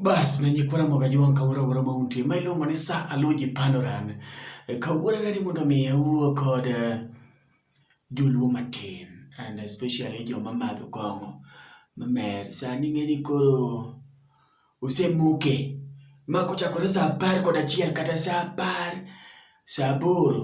Bas ne nyikwara moga jiwang' kawuora wuora ma untie ma iluongo ni sa aloji panoran. Eh, Kawuora dadi mondo mi awuo kod eh, joluo matin and especially joma madho kong'o mamer. Sani ing'eni koro osemoke ma kochakore sa apar kod achiel kata sa apar, sa aboro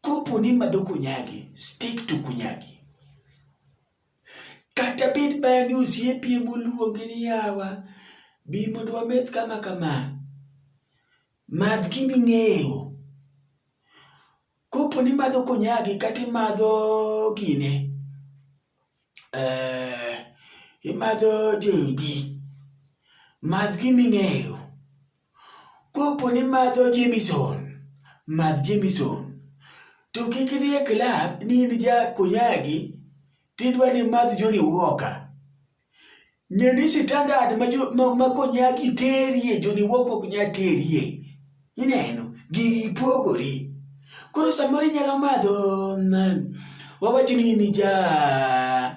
Kopo ni madho kunyagi, stick to kunyagi. Kata bed mana ni osiepi ema oluongi ni yawa, bi mondo wameth kama kama. Madh gima ing'eyo. Kopo ni imadho kunyagi kata imadho gine, eh, imadho JB, madh gima ing'eyo. Kopo ni madho Jameson, madh Jameson. To kik idhi e klab ni in ja Konyagi tidwa ni madh Johnny Walker. Ng'e ni standard ma, ma, ma Konyagi terie Johnny Walker ok nyal terie. Ineno, gigi pogore. Koro samoro inyalo madho, wawachi ni in ja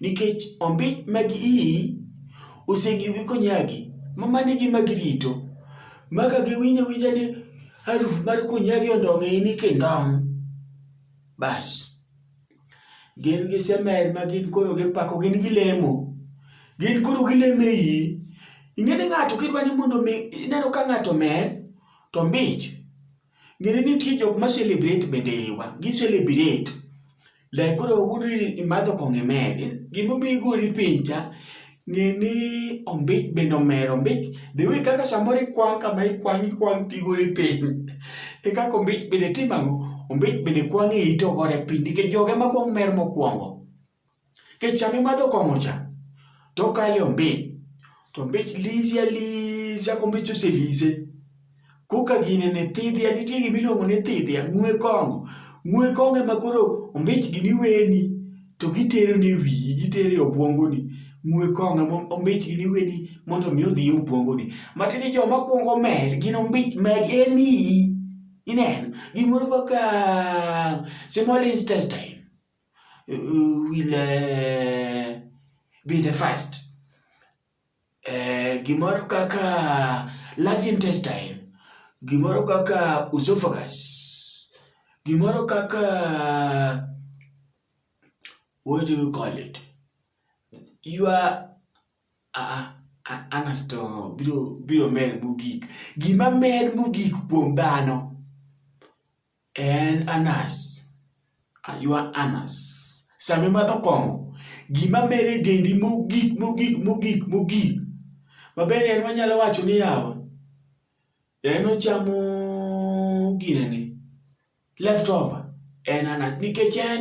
Nikech ombich mag iyi osegiyogi konyagi, ma mano e gima girito. Ma ka giwinjo awinja ni haruf mar konyagi ondong' e ini kindong', bas. Gin gi semer ma gin koro gipako, gin gilemo. Gin koro gilemo e iyi. Ing'eni ng'ato kidwa ni mondo mi ineno ka ng'ato omer, to ombich Ng'eni nitie jok ma celebrate bende iwa, gi celebrate. Like koro wawuondo ni imadho kong'o imer, gimomiyo igori piny cha, ng'e ni ombich bende omer, ombich the way kaka samoro ikwang' kama ikwang' ikwang' tigori piny, e kaka ombich bende timo ang'o? Ombich bende kwang' e ite ogore piny nikech joge ma kwong' mer mokwongo. Nikech sama imadho kong'o cha, to okalo e ombich, to ombich lisi alisa kombich oselise. Koka gine ne thidhia, nitie gima iluongo ni thidhia, ng'we kong'o. Ng'we kong'o ema koro ombich gini weni, to gitero ni wiyi, gitero e obwongoni. Ng'we kong'o ema ombich gini weni mondo omi odhi e obwongoni. Matiende ni joma kwongo mer gin ombich mag en iyi. Ineno? Gimoro kaka small intestine. uh, will uh, be the first. Uh, gimoro kaka large intestine, gimoro kaka esophagus, gimoro kaka what do you call it? You are uh, anasto biro biro mer mogik. Gima mer mogik kuom dhano En anas. Aywa anas. Sama imadho kong'o, gima mere e dendi mogik mogik mogik mogik mabende en wanyalo wacho ni yawa en ochamo ginene leftover en anas nikech en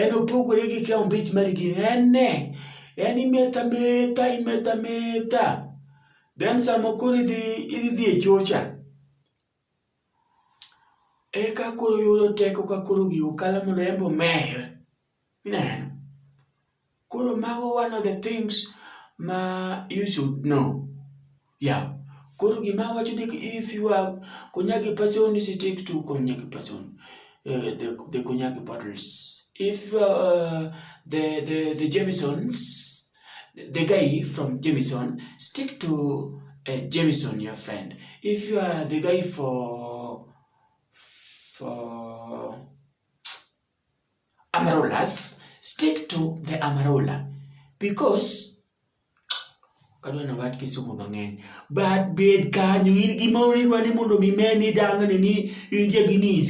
en opogore gi ka ombich mar gini en ne en imetho ametha imetho ametha then sama koro idhi idhi dhi e chocha Eka koro yudo teko ka koro gigo kalo mondo en be omer. Ineno? Koro mago one of the things ma you should know. Yeah. Koro gima awacho ni if you are Konyagi person, stick to Konyagi person. Uh, the, the Konyagi bottles. If uh, the, the, the Jamesons, The guy from Jameson, stick to uh, Jameson, your friend. If you are the guy for for Amarolas, stick to the Amarola because kadwa na wach kisomo mang'eny but bed kanyo in gima idwa ni mondo mi meni dang'ni ni in jagini